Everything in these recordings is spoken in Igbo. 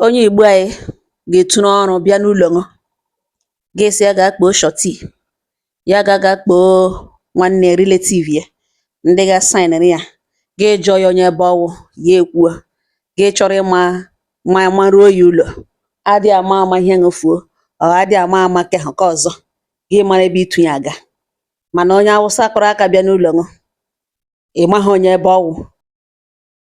Onye Igbo anyị ga-etu n'ọrụ bịa n'ụlọ ṅụ, gị sị ya gaa kpoo shọtii, ya ga ga kpoo nwanne relative ya, ndị ga saịnịrị ya, gị jụọ ya onye ebe ọ wụ, ya ekwuo, gị chọrọ ịma ma maruo ya ụlọ, adị ama ama ihe ṅụ fuo, ọ adị ama ama nke ahụ nke ọzọ, gị mara ebe ị tụ ya aga. Mana onye Awụsa kụrụ aka bịa n'ụlọ ṅụ, ị maghị onye ebe ọ wụ.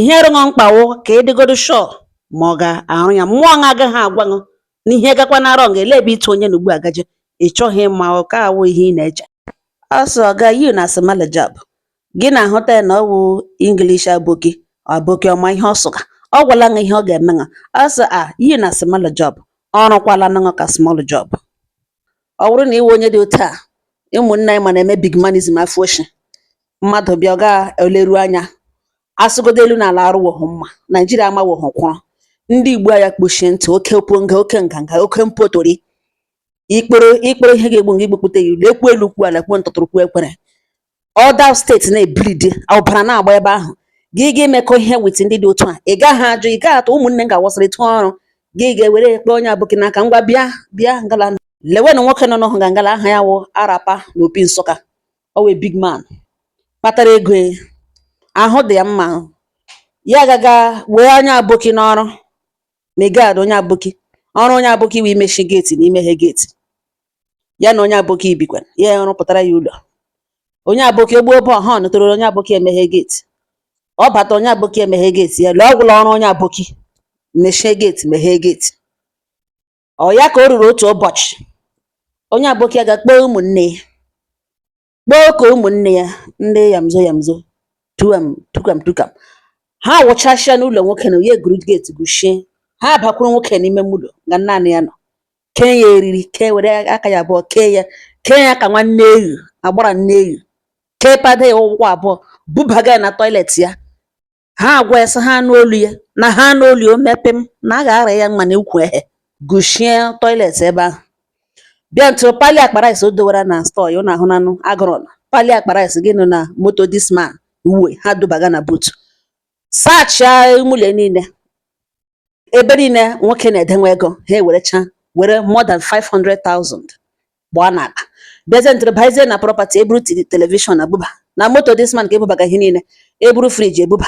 ihe rụ ṅụ mkpa wụ ka ị dịgodu sure ma ọ ga-arụ ya mmụọ ṅa agaghị agwa ṅụ na ihe gakwa na wrong elee ebe ị tụ onye na ugbu a gaje ị chọghị ịma ọ ka awụ ihe ị na-eche ọ sị ọga you na small job gị na-ahụta ya na ọ wụ English aboki aboki ọ ma ihe ọ sụga ọ gwala ṅa ihe ọ ga-eme ṅa ọ sị ṅa you na small job ọ rụkwala ṅa ka small job ọ wụrụ na i we onye dị otu a ụmụnne anyị ma na-eme big manism afọ oshi mmadụ bịa ọ gaa eleru anya asụgodo elu na ala arụwoghị mma naijiria amawoghị kwụrụ ndị Igbo anyị akpọchie ntị oke oponga oke nganga oke mpotori ikporo ikporo ihe ga-egbu ṅa igbupụta ya ule e kwuo elu kwuo ala kwuo ntụtụrụ kwuo ekwere other steeti na-ebleed ọbara na-agba ebe ahụ gị ga-emekọ ihe with ndị dị otu a ị gaghị ajụ ị gaghị atụ ụmụnne m ga-awasịrị tụọ ọrụ gị ga-ewere ekpe onye aboki n'aka ngwa bịa bịa ngala lewenụ nwoke nọ n'ọhụ ga ngala aha ya wụ arapa na Opi Nsụka ọ wụ big man kpatara ego e. ahụ dị ya mma ya gaga wee onye aboki n'ọrụ megad onye aboki ọrụ onye aboki wụ imechi geeti na imeghe geeti ya na onye aboki ebikwa ya rụpụtara ya ụlọ onye aboki o gbuo ụgbọ horn tororo onye aboki emeghe geeti ọ bata onye aboki emeghe geeti ya lee ọ gwụla ọrụ onye aboki mechie geeti meghee geeti oya ka o ruru otu ụbọchị onye aboki aga kpọọ ụmụnne ya kpọkọọ ụmụnne ya ndị yamzo yamzo tukam tukam ha wụchasịa n'ụlọ nwoke na onye guru geeti guchie ha bakwuru nwoke n'ime ụlọ nga naanị ya nọ kee ya eriri kee were aka ya abụọ kee ya kee ya ka nwa nne eghu agbara nne eghu kepada ya ụkwụ abụọ bubaga ya na toilet ya Ha agwa ya sị ha nụ olu ya na ha nụ olu ya o mee pịm na a ga-ara ya mma na ukwu ehe guchie toilet ebe ahụ bịa ntụrụ pali akpa rice o dowara na store ya ụnụ ahụnanụ agụrụ na pali akpa rice gị nụ na moto this man nwe ha dubaga na boot sachaa ime ụlọ niile ebe niile nwoke na-edenwe ego ha ewerecha were more than 500,000 gbaa n'akpa bịazie ntụrụ baizie na property eburu telivishọn ebuba na moto this man ka ebubaga ihe niile eburu friji ebuba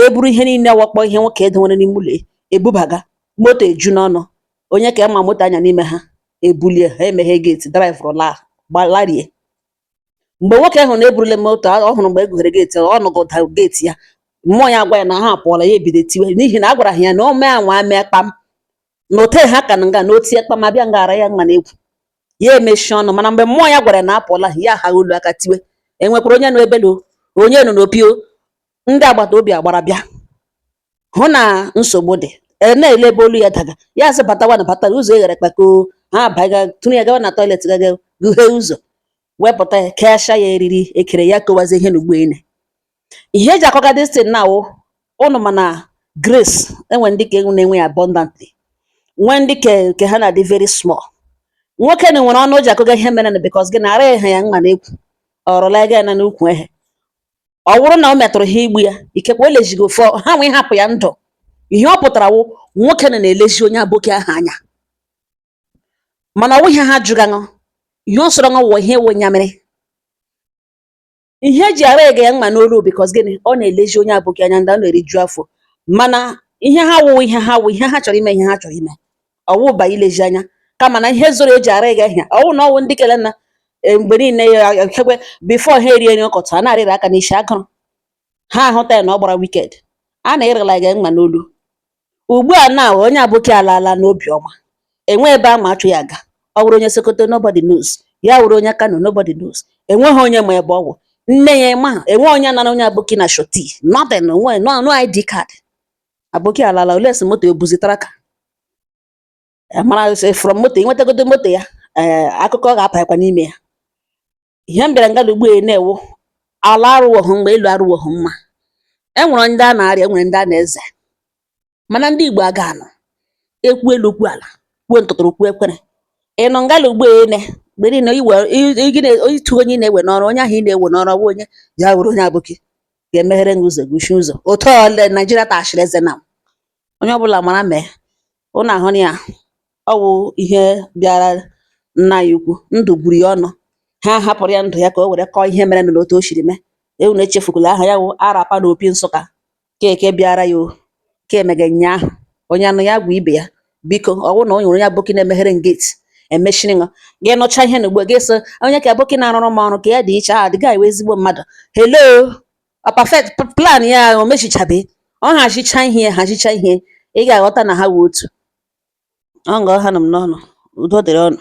eburu ihe niile wụkpọ ihe nwoke edenwere n'ime ụlọ ebubaga moto eju n'ọnụ onye ka ama moto anya n'ime ha ebulie ha emeghe geti drivụrụ laa gbalarie mgbe nwoke ahụ na e burule moto ọ hụrụ mgbe e gughere geeti ọ nụgo ụda geeti ya mmụọ ya agwa ya na ha apụọla ya ebido tiwe n'ihi na a gwara ha ya na o mee anwa mee kpam na otu ha ka nọ nga na o tie kpam abịa ngara ya mma n'egwu ya emechie ọnụ mana mgbe mmụọ ya gwara ya na apụọla ha ya ahaa olu aka tiwe enwekwara onye nọ ebe na onye nọ n'Opi o ndị agbata obi agbara bịa hụ na nsogbu dị e na-ele ebe olu ya daga ya asị batawa na bata ụzọ eghere kpakoo ha abaga tụrụ ya gawa na toilet gaga gụghee ụzọ wepụta ya keasha ya eriri ekere ya kọwazie ihe na ugbo ene ihe eji akọga distin na awụ ụnụ mana grace enwe ndị ka na-enwe ya abundantly nwee ndị ke ha na-adị very small nwoke na nwere ọnụ o ji akọga ihe mere na because gịnị araghị ya mma n'ekwu ọrụla ego ya na n'ukwu ehe ọ bụrụ na o metụrụ ha igbu ya ikekwe o lezighị ofe ọ- ha nwee hapụ ya ndụ ihe ọ pụtara wụ nwoke na na-elezi onye aboki ahụ anya mana ọ wụ ihe ha jụga aṅụ ihe ọ sọrọ aṅụ wụ ihe ị wụ nyamiri ihe eji araghị ya mma n'olu because gịnị ọ na-elezi onye aboki anya ndị ọ na-eriju afọ mana ihe ha wụ ihe ha chọrọ ime ihe ha chọrọ ime ọ wụ ba ilezi anya kama na ihe zoro eji araghị ya ọ wụ na ọ wụ ndị kele na e, mgbe niile ikekwe before ha erie nri ọkọtụ a na-arịrị aka n'isi agụrụ ha ahụta ya na ọ gbara wicked a na-arala gị mma n'olu ugbu a na onye aboki alaala n'obi ọma enwe ebe ama achụ ya aga ọ wụrụ onye sokoto nobody knows ya wụrụ onye kano nobody knows enweghị onye ma ebe ọ wụ nne ya ma enwe onye nara onye aboki na surety nothing no ID card Aboki alaala olee sị moto ebuzi tracker mara sị from moto i nwetagodu moto ya ee eh, akụkọ ọ ga-apakwa n'ime ya ihe m bịara ngala ugbu a na wụ ala arụwọhụ mgbe elu arụwọhụ mma e nwere ndị a na-arịa e nwere ndị a na-eze mana ndị Igbo aga anụ ekwu elu kwuo ala kwuo ntụtụrụ kwuo ekwere ị nọ ngala ugbo ene mgbe niile itụ onye ị na-ewe n'ọrụ onye ahụ ị na-ewe n'ọrụ bụ onye ya were onye aboki ga-emeghere gị ụzọ guchi ụzọ otu ole Naijiria tachiri eze na onye ọbụla mara mee ụnụ ahụ na ya ọ wụ ihe bịara nna ya ukwu ndụ gburu ya ọnụ ha hapụrụ ya ndụ ya ka o were kọọ ihe mere na otu o siri mee ụnụ echefukwala aha ya wụ Arapa na Opi Nsụka keke bịara ya o kemega nnyaahụ onye nụ ya gwa ibe ya biko ọ bụrụ na o nwere onye aboki na-emeghere m gate emechiri ṅụ gị nụcha ihe na ugbo gị so onye ka aboki na-arụrụ m ọrụ ka ya dị iche a ah, dị gaghị ezigbo mmadụ hello ọ perfect plan ya o mechichabe ọ hazicha ihe hazicha ihe ị ga-aghọta na ha wụ otu ọ nga ọ hanụ m n'ọnụ udo dịrị ụnụ